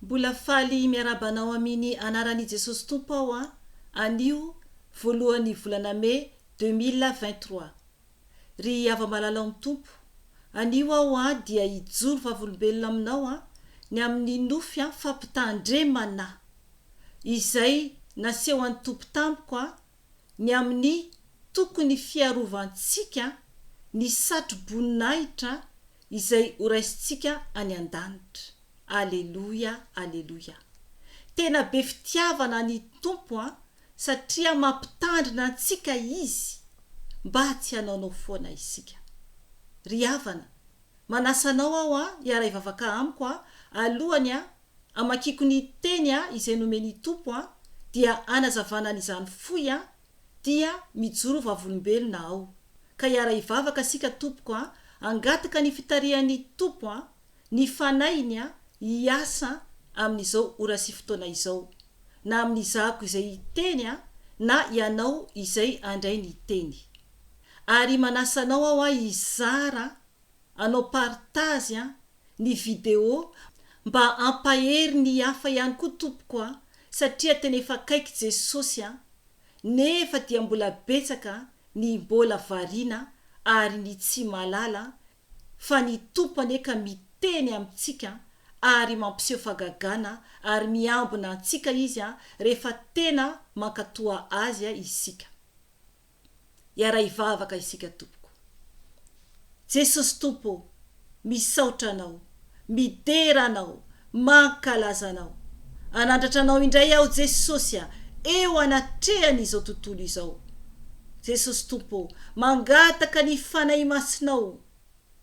Mbola faly miarahaba anao amini anaran i Jesosy Tompo aho an, anio voalohany volana mai deux mille vingt trois. Ry hava-malala ao am Tompo, anio aho an dia hijoro vavolombelona aminao an, ny amini nofy an fampitahan dre mana! izay naseho any Tompo tamiko an, ny amin'ny tokony fiarovantsika ny satro-boninahitra izay horaisintsika any an-danitra. Aleloia, aleloia. Tena be fitiavana ny Tompo an, satria mampitandrina antsika Izy mba tsy hanaonao foana isika. Ry havana, manasa anao aho an, hiara-hivavaka amiko an, alohany an, Amakiako ny teny a izay nomen'i Tompo a dia anazavana an'izany fohy a dia mijoro vavolombelona aho ka hiara-hivavaka sika Tompoko a angataka ny fitarihan'i Tompo a ny fanahiny a hiasa amin'izao ora sy fotoana izao na amin'izako izay hiteny a na ianao izay andray ny teny ary manasa anao aho a hizara anao partage a ny vidéo mba ampahery ny hafa ihany koa tompoko a satria tena efa akaiky Jesosy a nefa dia mbola betsaka ny mbola variana ary ny tsy mahalala fa ny Tompo anie ka miteny amintsika ary mampiseho fagagana ary miambina antsika izy a rehefa tena mankatoa azy a isika. hiara-hivavaka isika tompoko. Jesosy Tompo ô, misaotra Anao, midera Anao, mankalaza Anao. Anandratra Anao indray aho Jesosy a, eo anatrehan' izao tontolo izao. Jesosy Tompo ô, mangataka ny Fanahy Masinao.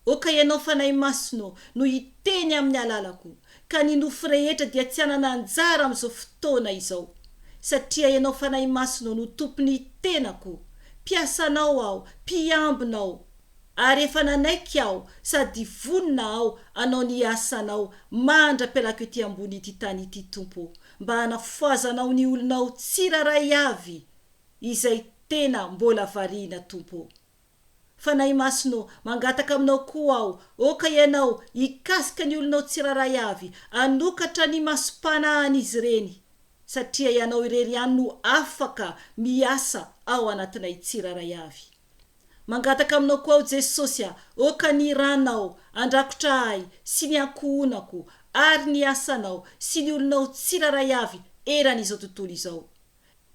Oka Ianao Fanahy Masina ô, no hiteny amin'ny alalako, ka ny nofo rehetra dia tsy hanana anjara amin'izao fotoana izao. Satria Ianao Fanahy Masina ô no Tompon'ny tenako, mpiasanao aho, mpiambinao. Ary efa nanaiky aho sady vonona aho hanao ny asanao mandra-pialako ety ambony ity tany ity, Tompo ô, mba hanafoazanao ny olonao tsirairay avy izay tena mbola variana, Tompo ô. Fanahy Masina ô, mangataka aminao koa aho, aoka ianao hikasika ny olonao tsirairay avy, hanokatra ny imasom-panahan'izy ireny, satria ianao irery ihany no afaka miasa ao anatinay tsirairay avy. Mangataka aminao koa aho Jesosy a, aoka ny rànao handrakotra ahy sy ny ankohonako, ary ny asanao sy ny olonao tsirairay avy eran'izao tontolo izao.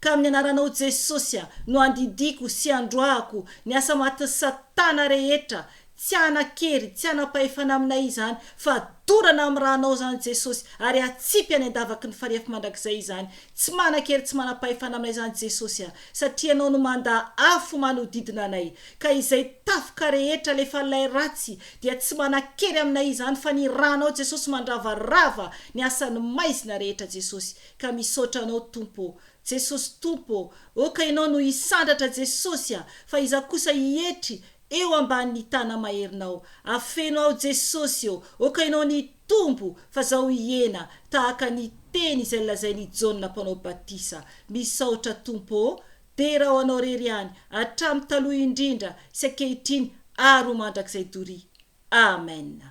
Ka amin'ny anaranao Jesosy a, no andidiako sy androahako ny asa matin'i satana rehetra, tsy hanan-kery, tsy hanam-pahefana aminay izany, fa dorana amin'ny ranao izany Jesosy, ary atsipy any an-davaky ny farihy afo mandrakizay izany, tsy manan-kery tsy manam-pahefana aminay izany Jesosy a, satria ianao no mandà afo manodidina anay, ka izay tafika rehetra alefan'ilay ratsy dia tsy manan-kery aminay izany, fa ny ranao Jesosy mandravarava ny asan'ny maizina rehetra Jesosy. Ka misaotra anao Tompo ô. Jesosy Tompo ô, ô ka Ianao no hisandratra Jesosy a, fa izaho kosa hietry eo ambany ny tana maherinao, afeno aho Jesosy ô, ô ka Ianao ny hitombo fa zaho hihena tahaka ny teny izay lazain' i Jaona mpanao batisa. Misaotra Tompo ô, dera ho Anao rery ihany, hatramin' taloha indrindra sy ankehitriny ary ho mandrakizay doria. Amen.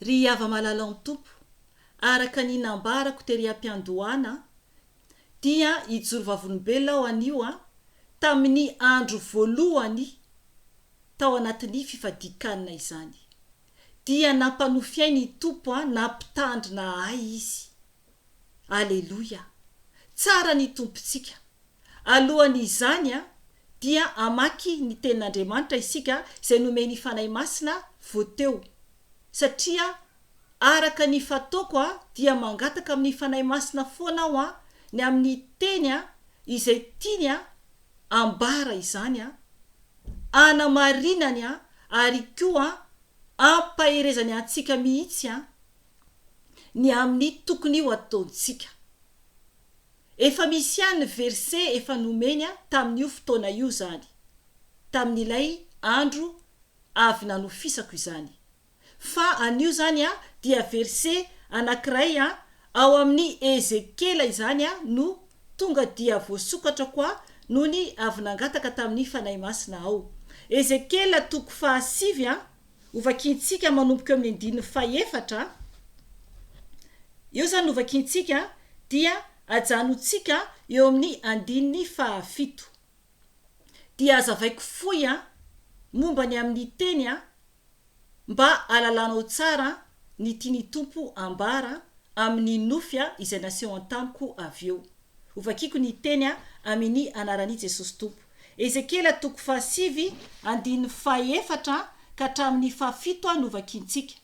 Ry hava-malala ao ny Tompo, Araka ny nambarako tery am-piandohana dia hijoro vavolombelona aho anio tamin'ny andro voalohany tao anatin'ny fifadian-kanina izany. Dia nampanofy ahy ny Tompo nampitandrina ahy Izy. Aleloia! Tsara ny Tompontsika. Alohan'izany dia hamaky ny Tenin'Andriamanitra isika izay nomen'ny Fanahy Masina vao teo satria Araka ny fataoko dia mangataka amin'ny Fanahy Masina foana aho ny amin'ny teny izay tiany ambara izany, anamarinany ary koa ampaherezany antsika mihitsy ny amin'ny tokony ho ataontsika. Efa misy ihany ny verse efa nomeny tamin'io fotoana io izany, tamin'ilay andro avy nanofisako izany. fa anio izany dia verse anankiray ao amin'ny Ezekiela izany no tonga dia voasokatra koa nony avy nangataka tamin'ny Fanahy Masina aho. Ezekiela toko fahasivy, hovakiantsika manomboka eo amin'ny andininy fahefatra, eo izany novakiantsika dia ajanontsika eo amin'ny andininy fahafito. Dia hazavaiko fohy momba ny amin'ny teny Mba alalanao tsara ny tiany Tompo ambara amini nofy a izay naseho antamiko avy eo. Ho vakiko ny teny a amini anarani Jesosy Tompo. Ezekiela toko faha sivy andininy faha efatra ka hatramini faha fito a no vakintsika.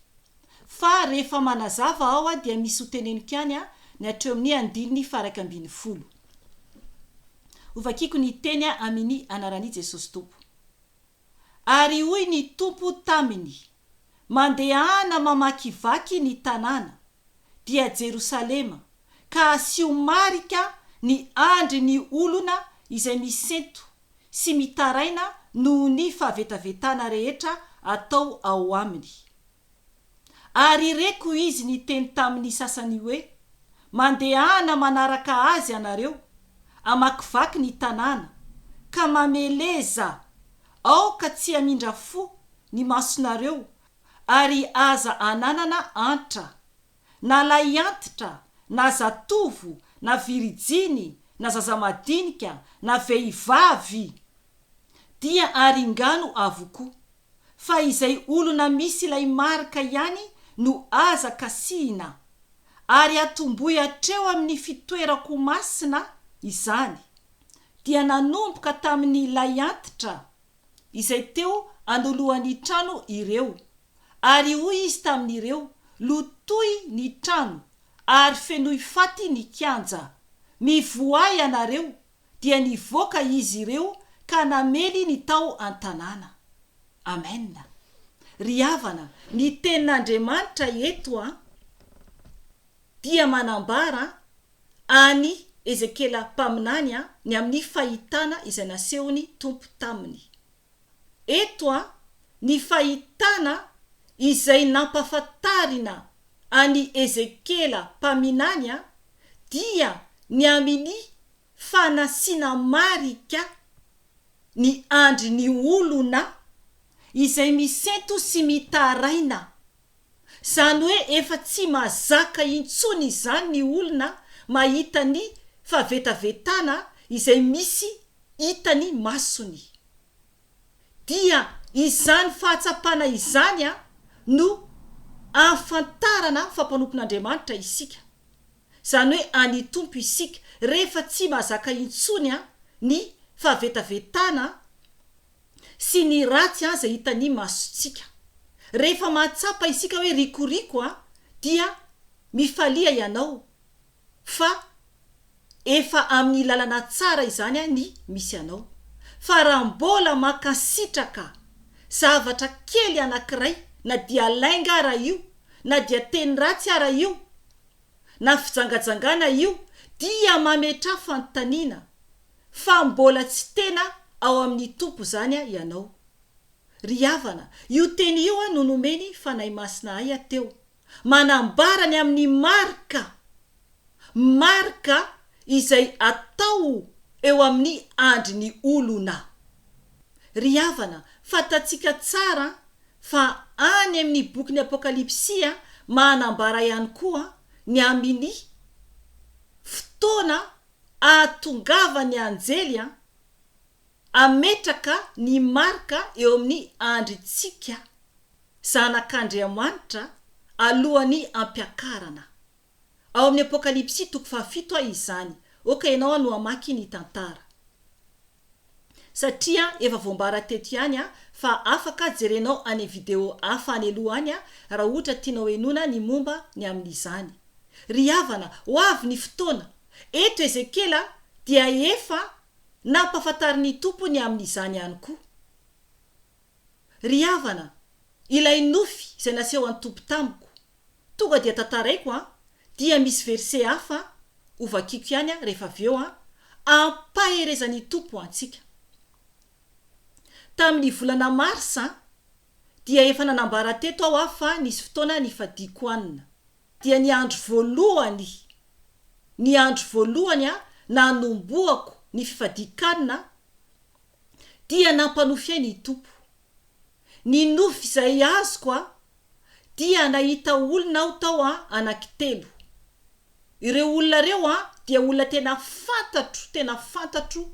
Fa rehefa manazava ao a dia misy ho teneniko ihany a ny hatreo amini andininy faha raika ambin'ny folo. Ho vakiko ny teny a amini anarani Jesosy Tompo. Ary hoy ny Tompo taminy, Mandehana mamakivaky ny tanàna, dia Jerosalema, ka asio marika ny andry ny olona izay misento sy mitaraina noho ny fahavetavetana rehetra atao ao aminy. Ary ireko izy niteny tamin'ny sasany hoe, Mandehana manaraka azy ianareo, amakivaky ny tanàna, ka mameleza, aoka tsy hamindra fo ny masonareo, ary aza ananana antra, na lahiantitra, na zatovo, na virijiny, na zaza madinika, na vehivavy, dia aringano avokoa. fa izay olona misy ilay marika ihany no aza kasihina, ary atombohy hatreo amin'ny fitoerako masina izany, dia nanomboka tamin'ilay antitra izay teo anoloan'ny trano ireo, ary hoy izy tamin'ireo, Lotoy ny trano, ary fenoy faty ny kianja, mivoaha ianareo, dia nivoaka izy ireo ka namely ny tao an-tanàna. Amen. Ry havana, ny Tenin'Andriamanitra eto dia manambara an'i Ezekiela mpaminany ny amin'ny fahitana izay nasehon'ny Tompo taminy. eto ny fahitana izay nampafantarina an'i Ezekiela mpaminany dia ny amin'ny fanasiana marika ny andry ny olona izay misento sy mitaraina, Izany hoe efa tsy mazaka intsony izany ny olona mahita ny fahavetavetana izay misy hitan'ny masony. Dia izany fahatsapana izany no ahafantarana fa mpanompon'Andriamanitra isika, izany hoe an'ny Tompo isika, rehefa tsy mazaka intsony ny fahavetavetana sy ny ratsy aza hitan'ny masontsika. Rehefa mahatsapa isika hoe rikoriko a, dia mifalia ianao fa efa amin'ny lalana tsara izany ny misy anao. Fa raha mbola mankasitraka zavatra kely anankiray, na dia lainga ara io, na dia teny ratsy ara io, na fijangajangana io, dia mametraha fanontaniana. fa mbola tsy tena ao amin'ny Tompo izany ianao. Ry havana, io teny io no nomen'ny Fanahy Masina ahy teo, manambara ny amin'ny marika, marika izay atao eo amin'ny andrin'ny olona. Ry havana, fantatsika tsara fa any amin'ny bokin'ny Apokalypsy manambara ihany koa ny amin'ny fotoana Ahatongava ny anjely an! Ametraka ny marika eo amin'ny andrintsika, zanak'Andriamanitra, alohan'ny ampiakarana. Ao amin'ny Apokalypsy toko fahafito izany. Oka ianao no hamaky ny tantara. satria efa voambara teto ihany fa afaka jerenao any video hafa any aloha any raha ohatra tianao henoina ny momba ny amin'izany. Ry havana, ho avy ny fotoana. Eto Ezekiela dia efa nampafantarin'ny Tompo ny amin'izany ihany koa. Ry havana, ilay nofy izay naseho an'i Tompo tamiko, tonga dia tantaraiko an, dia misy verset hafa an, ho vakiko ihany an rehefa avy eo an, ampaherezan'i Tompo antsika. Tamin'ny volana mars an, dia efa nanambara teto aho an fa nisy fotoana nifadiako an, dia ny andro voalohany, ny andro voalohany an nanombohako ny fifadikan an, dia nampanofy ahy ny Tompo. Ny nofy izay azoko a, dia nahita olona aho tao a, anankitelo. Ireo olona ireo a, dia olona tena fantatro, tena fantatro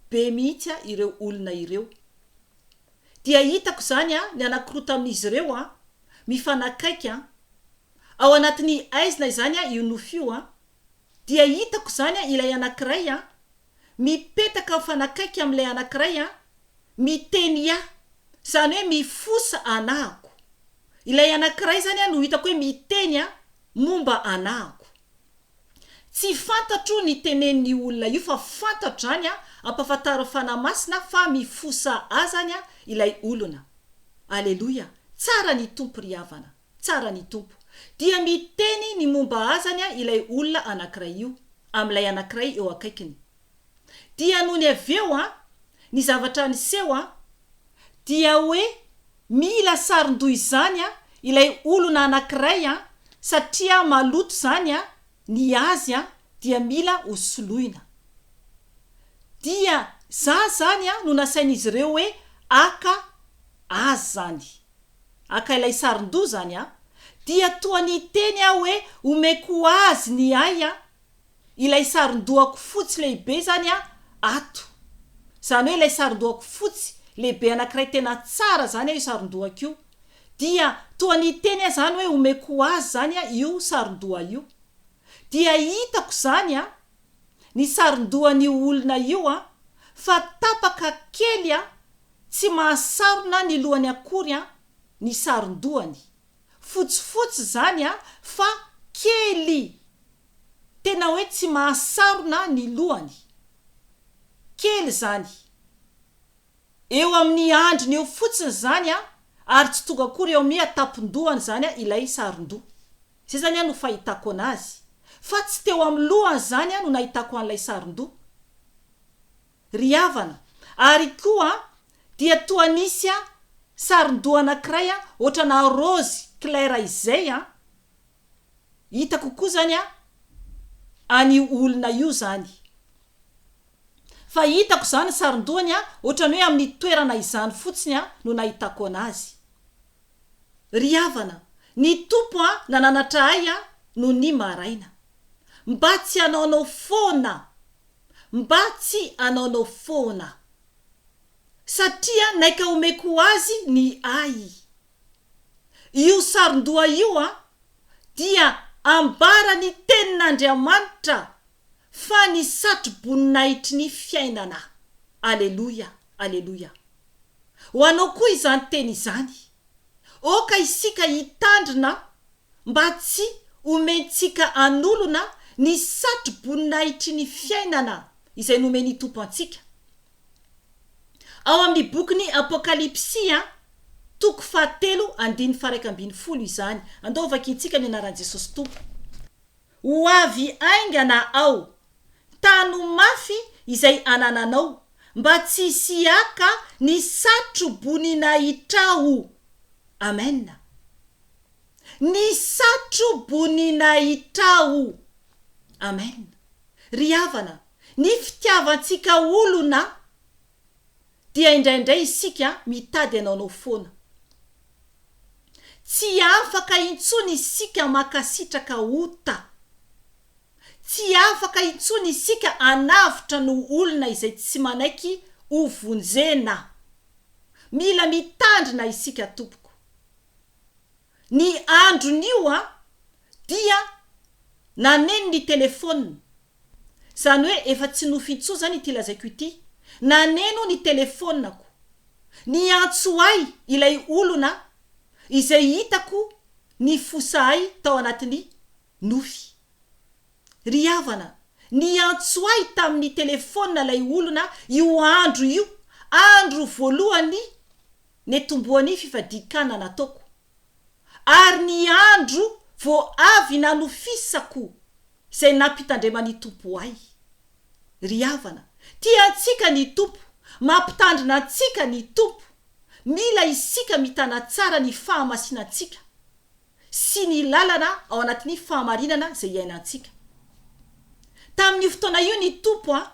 be mihitsy a, ireo olona ireo. Dia hitako izany a, ny anankiroa tamin'izy ireo a, mifanakaiky a. Ao anatin'ny aizina izany a, io nofy io a. Dia hitako izany an, ilay anankiray an, mipetaka mifanakaiky amin'ilay anankiray an, miteny ya, izany hoe mifosa anahako. Ilay anankiray izany an no hitako hoe miteny an, momba anahako. Tsy fantatro ny tenenin'io olona io fa fantatro izany an, ampahafantarin'ny Fanahy Masina fa mifosa ahy izany an, ilay olona. Aleloia! Tsara ny Tompo ry havana. Tsara ny Tompo. Dia miteny ny momba azany ilay olona anankiray io, amin'ilay anankiray eo akaikiny. Dia nony avy eo an, ny zavatra niseho an, dia hoe mila saron-doha izany an, ilay olona anankiray an, satria maloto izany an, ny azy an, dia mila ho soloina. Dia za izany an no nasain'izy ireo hoe haka azy izany. Haka ilay sarin-doha izany aho, dia toa niteny aho hoe omeko ho azy ny ahy an! Ilay sarin-dohako fotsy lehibe izany an, ato. Izany hoe ilay sarin-dohako fotsy lehibe anankiray tena tsara izany an io sarin-dohako io. Dia toa niteny aho izany hoe omeko ho azy izany an io sarin-doha io. Dia hitako izany an! ny sarondohan'io olona io an, fa tapaka kely an, tsy mahasarona ny lohany akory an, ny sarondohany. Fotsifotsy izany an, fa kely. Tena hoe tsy mahasarona ny lohany. Kely izany. Eo amin'ny andriny eo fotsiny izany an, ary tsy tonga akory eo amin'ny an-tampon-dohany izany an, ilay sarondoha. Izay izany no fahitako anazy. Fa tsy teo amin'ny lohany izany no nahitako an'ilay sarin-doha. Ry havana, ary koa dia toa nisy sarin-doha anankiray ohatrana raozy claire izay, hitako koa izany an'io olona io izany. Fa hitako izany ny sarin-dohany ohatrany hoe amin'ny toerana izany fotsiny no nahitako anazy. Ry havana, ny Tompo a nananatra ahy a no ny maraina. Mba tsy hanaonao foana. Mba tsy hanaonao foana. Satria naika homeko ho azy ny ahy. Io sarondoha io a dia ambara ny tenin'Andriamanitra fa ny satroboninahitry ny fiainana. Aleloia, aleloia. Ho anao koa izany teny izany. Oka isika hitandrina mba tsy homentsika an'olona ny satroboninahitry ny fiainana izay nomen'ny Tompo antsika. Ao amin'ny bokin'ny Apokalypsy, toko fahatelo, andininy faharaika ambin'ny folo izany. Andao hovakintsika ny anaran'i Jesosy Tompo. Ho avy haingana aho. Tano mafy izay anananao mba tsy hisiaka ny satro-boninahitrao. Amen. Ny satro-boninahitrao. Amen. Ry havana, ny fitiavantsika olona Dia indraindray isika mitady anaonao foana. Tsy afaka intsony isika mankasitraka ota. Tsy afaka intsony isika anavotra ny olona izay tsy manaiky ho vonjena. Mila mitandrina isika tompoko. Ny andron'io an, dia naneno ny telefaonina, izany hoe efa tsy nofy intsony izany ity lazaiko ity, naneno ny telefaonako, niantso ahy ilay olona izay hitako nifosa ahy tao anatin'ny nofy. Ry havana, niantso ahy tamin'ny telefaonina ilay olona io andro io, andro voalohany, nitomboan'ny fifadian-kanina nataoko, ary ny andro vao avy nanofisako izay nampitandreman'ny Tompo ahy. Ry havana, tia antsika ny Tompo, mampitandrina antsika ny Tompo, mila isika mitana tsara ny fahamasinantsika, sy ny lalana ao anatin'ny fahamarinana izay iainantsika. Tamin'io fotoana io ny Tompo an,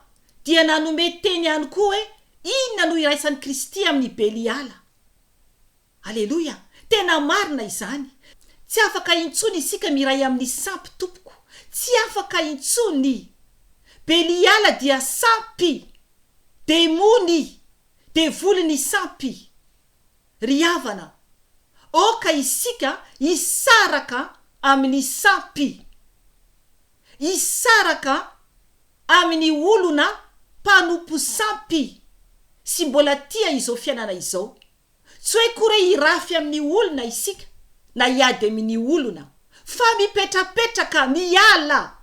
dia nanome teny ihany koa hoe inona no iraisan'i Kristy amin'i Beliala. Aleloia! Tena marina izany. Tsy afaka intsony isika miray amin'ny sampy, tompoko. Tsy afaka intsony. Beliala dia sampy. Demony. Devoly ny sampy. Ry havana, aoka isika hisaraka amin'ny sampy, hisaraka amin'ny olona mpanompo sampy sy mbola tia izao fiainana izao. Tsy hoe kore hirafy amin'ny olona isika na hiady amin'ny olona, fa mipetrapetraka miala.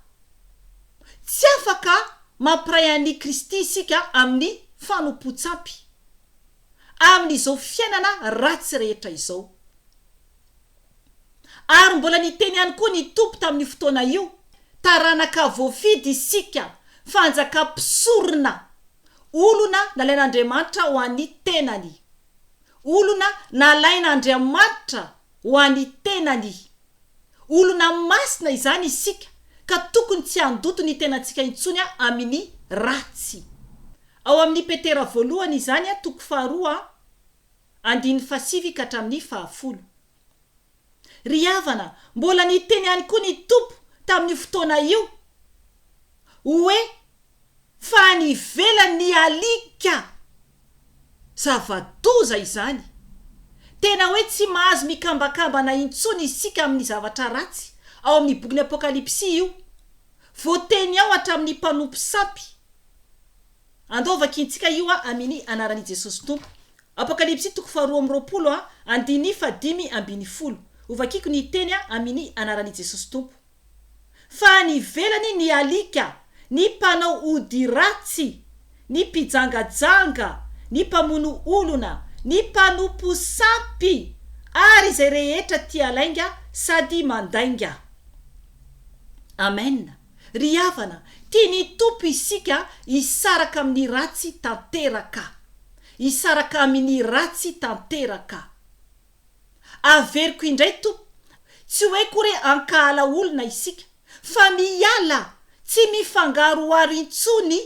Tsy afaka mampiray an'i Kristy isika amin'ny fanompoan-tsampy. amin'izao fiainana ratsy rehetra izao. Ary mbola niteny ihany koa ny Tompo tamin'io fotoana io, Taranaka voafidy isika, fanjakam-pisorona, olona nalain'Andriamanitra ho an'ny tenany, olona nalain'Andriamanitra Ho an'ny tenany. Olona masina izany isika ka tokony tsy handoto ny tenantsika intsony amin'ny ratsy. Ao amin'ny Petera voalohany izany, toko faharoa, andininy fahasivy ka hatramin'ny fahafolo. Ry havana, mbola niteny ihany koa ny Tompo tamin'io fotoana io hoe fa any ivelany alika zava-doza izany, tena hoe tsy mahazo mikambakambana intsony isika amin'ny zavatra ratsy, ao amin'ny bokin'ny Apokalypsy io, voateny ao hatramin'ny mpanompo sampy, andao vakintsika io a amini anaran'i Jesosy Tompo, Apokalypsy toko faharoa amby roapolo a andini fahadimy ambin'ny folo, hovakiko ny teny a amini anaran'i Jesosy Tompo. fa any ivelany ny alika, ny mpanao ody ratsy, ny mpijangajanga, ny mpamono olona, ny mpanompo sampy ary izay rehetra tia lainga sady mandainga. Amen! Ry havana, tian'ny Tompo isika hisaraka amin'ny ratsy tanteraka. Hisaraka amin' ny ratsy tanteraka. Averiko indray to, tsy hoe kory ankahala olona isika fa miala tsy mifangaroharo intsony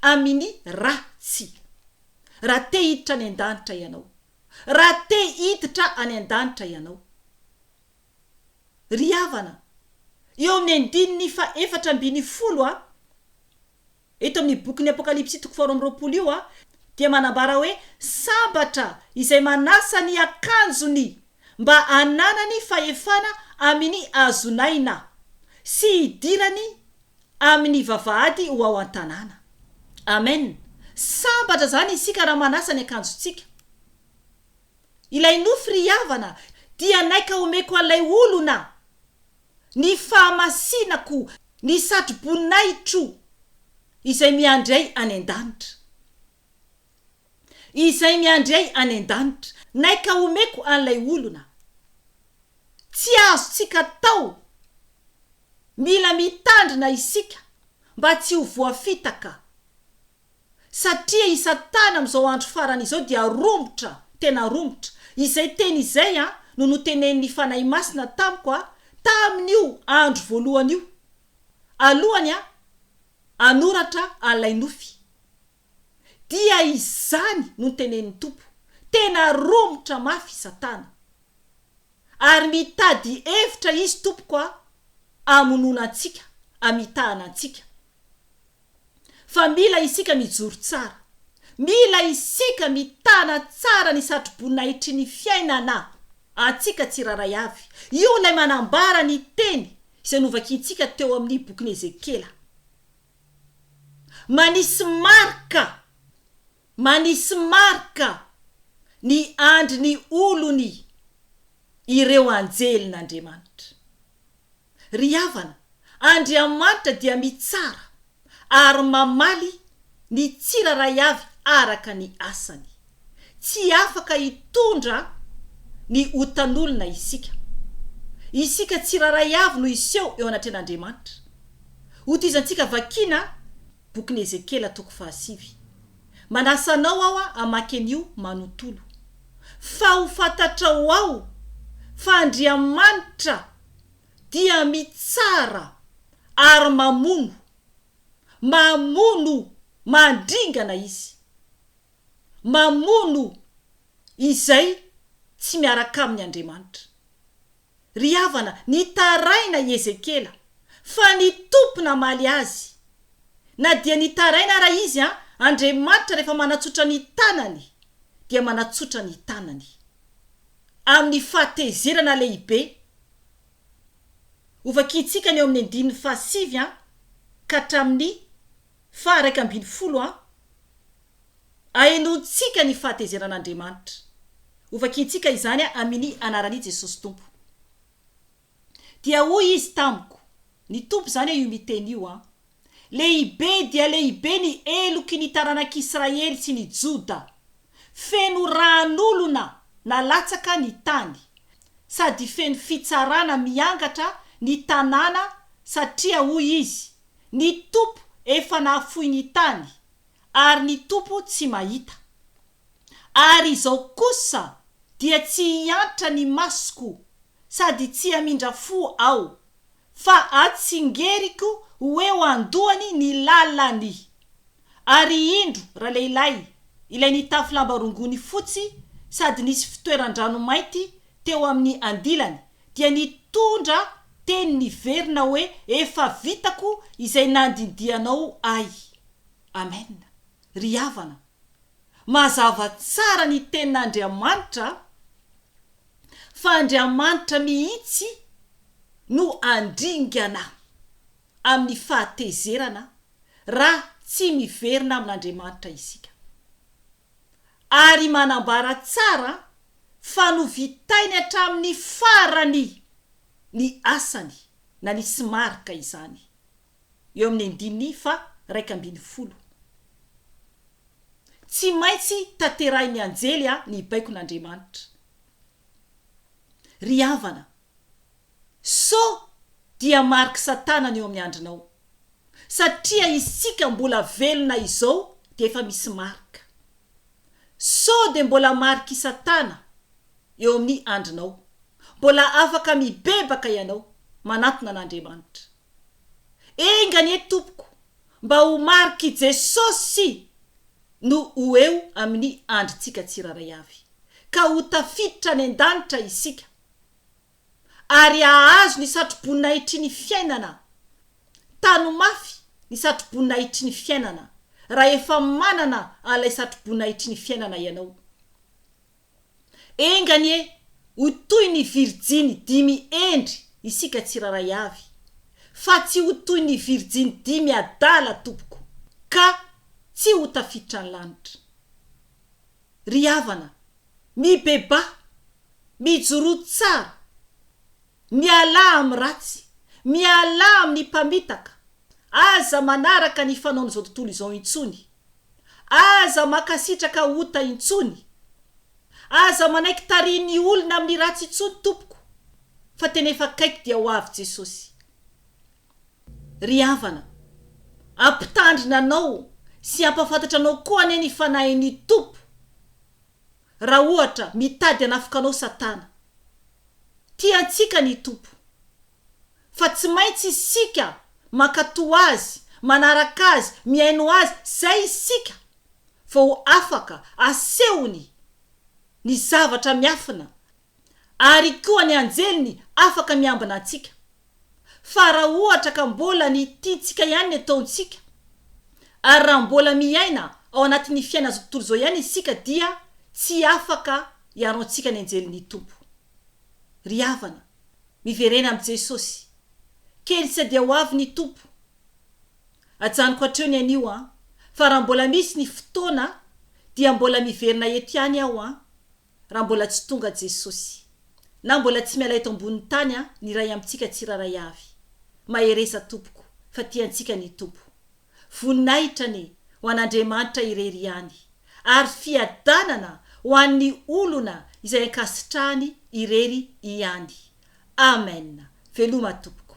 amini ra tsy. Raha te hiditra any an-danitra ianao. Raha te hiditra any an-danitra ianao. Ry havana, eo amin'ny andininy faha efatra ambin'ny folo a. Eto amin'ny bokin'ny Apokalypsy toko faharoa amby roapolo io dia manambara hoe sambatra izay manasa ny akanjony mba hananany fahefana amin'ny hazon'aina sy hidirany amin'ny vavahady ho ao an-tanàna. Amen! Sambatra izany isika raha manasa ny akanjontsika. Ilay nofy ry havana dia naika omeko an'ilay olona. ny fahamasinako ny satroboninahitro izay miandry ahy any an-danitra. Izay miandry ahy any an-danitra. Naika omeko an'ilay olona. Tsy azontsika atao. Mila mitandrina isika mba tsy ho voafitaka. satria i satana amin'izao andro farany izao dia romotra, tena romotra, izay teny izay an no notenenin'ny Fanahy Masina tamiko an tamin'io andro voalohany io alohany an hanoratra an'ilay nofy dia izany no notenenin'ny Tompo, tena romotra mafy i satana ary mitady hevitra izy tompoko an hamonoana antsika, hamitahana antsika. fa mila isika mijoro tsara, mila isika mitana tsara ny satroboninahitry ny fiainana antsika tsirairay avy. Io ilay manambara ny teny izay novakintsika teo amin'ny bokin'i Ezekiela. Manisy marika, manisy marika ny andry ny olony ireo anjelin'Andriamanitra. Ry havana, Andriamanitra dia mitsara ary mamaly ny tsirairay avy araka ny asany. Tsy afaka hitondra ny otan'olona isika. Isika tsirairay avy no hiseho eo anatrehan'Andriamanitra. Hotizantsika vakina bokin'i Ezekiela toko fahasivy. Manasa anao aho hamaky an'io manontolo, fa ho fantatrao ao fa Andriamanitra dia mitsara ary mamono, mamono mandringana Izy, mamono izay tsy miaraka aminy Andriamanitra. Ry havana, nitaraina i Ezekiela fa ny Tompo namaly azy. Na dia nitaraina ara izy an, Andriamanitra rehefa manatsotra ny tanany dia manatsotra ny tanany. Amin'ny fahatezerana lehibe. Ho vakintsika ny ao amin'ny andininy fahasivy an ka hatramin'ny faha iraika ambin'ny folo an. Ahenoantsika ny fahatezeran'Andriamanitra. Hovakintsika izany amin'i Anaran'i Jesosy Tompo. Dia hoy Izy tamiko, Ny Tompo izany io miteny io an. Lehibe dia lehibe ny heloky ny taranak'Israely sy ny Joda. Feno ran'olona nalatsaka ny tany, sady feno fitsarana miangatra ny tanàna satria hoy Izy, Ny Tompo efa nahafoy ny tany, ary ny Tompo tsy mahita. Ary izao kosa dia tsy hiantra ny masoko sady tsy hamindra fo aho, fa atsingeriko ho eo an-dohany ny lalany. Ary indro ralehilahy ilay nitafy lamba rongony fotsy sady nisy fitoeran-drano mainty teo amin'ny andilany dia nitondra teny niverina hoe, Efa vitako izay nandindianao ahy. Amen ry havana mazava tsara ny tenin'Andriamanitra fa Andriamanitra mihitsy no andringana amin'ny fahatezerana raha tsy miverina amin'Andriamanitra isika ary manambara tsara fa novitainy hatramin'ny farany ny asany na nisy marika izany eo amin'ny andininy faha iraika ambin'ny folo. Tsy maintsy tanterahin'ny anjely a ny baikon'Andriamanitra. Ry havana, so dia mariky satana ny eo amin'ny andrinao. Satria isika mbola velona izao dia efa misy marika. So dia mbola marik'i satana eo amin'ny andrinao. Mbola afaka mibebaka ianao, manantona an'Andriamanitra. Enga anie tompoko mba ho marik'i Jesosy no ho eo amin'ny andrintsika tsirairay avy, ka ho tafiditra any an-danitra isika, ary hahazo ny satroboninahitry ny fiainana. Tano mafy ny satroboninahitry ny fiainana rahefa manana an'ilay satroboninahitry ny fiainana ianao. Enga anie ho toy ny virjiny dimy hendry isika tsirairay avy, fa tsy ho toy ny virjiny dimy adala tompoko, ka tsy ho tafiditra ny lanitra. Ry havana, mibebaha, mijoroa tsara. Mialà amin'ny ratsy, mialà amin'ny mpamitaka, aza manaraka ny fanaon'izao tontolo izao intsony, aza mankasitraka ota intsony, aza manaiky tarihin'ny olona amin'ny ratsy intsony tompoko fa tena efa akaiky dia ho avy Jesosy. Ry havana, ampitandrina anao sy ampafantatra anao koa anie ny Fanahin'ny Tompo. Raha ohatra, mitady hanafoka anao Satana. Tia antsika ny Tompo. Fa tsy maintsy isika mankatò Azy, manaraka Azy, mihaino Azy, izay isika vao afaka asehony ny zavatra miafina ary koa ny anjeliny afaka miambina antsika, fa raha ohatra ka mbola ny tiantsika ihany ny ataontsika, ary raha mbola miaina ao anatin'ny fiaina azo tontolo izao ihany isika dia tsy afaka hiaro antsika ny anjelin'ny Tompo. Ry havana, miverena amin'i Jesosy, kely tsy dia ho avy ny Tompo. Ajanoko hatreo ny anio an, fa raha mbola misy ny fotoana dia mbola miverina eto ihany aho an, raha mbola tsy tonga Jesosy, na mbola tsy miala eto ambonin'ny tany an, ny iray amintsika tsirairay avy. Mahereza tompoko, fa tiantsika ny Tompo. Voninahitra anie ho an'Andriamanitra irery ihany, ary fiadanana ho an'ny olona izay ankasitrahany irery ihany. Amen! Veloma tompoko.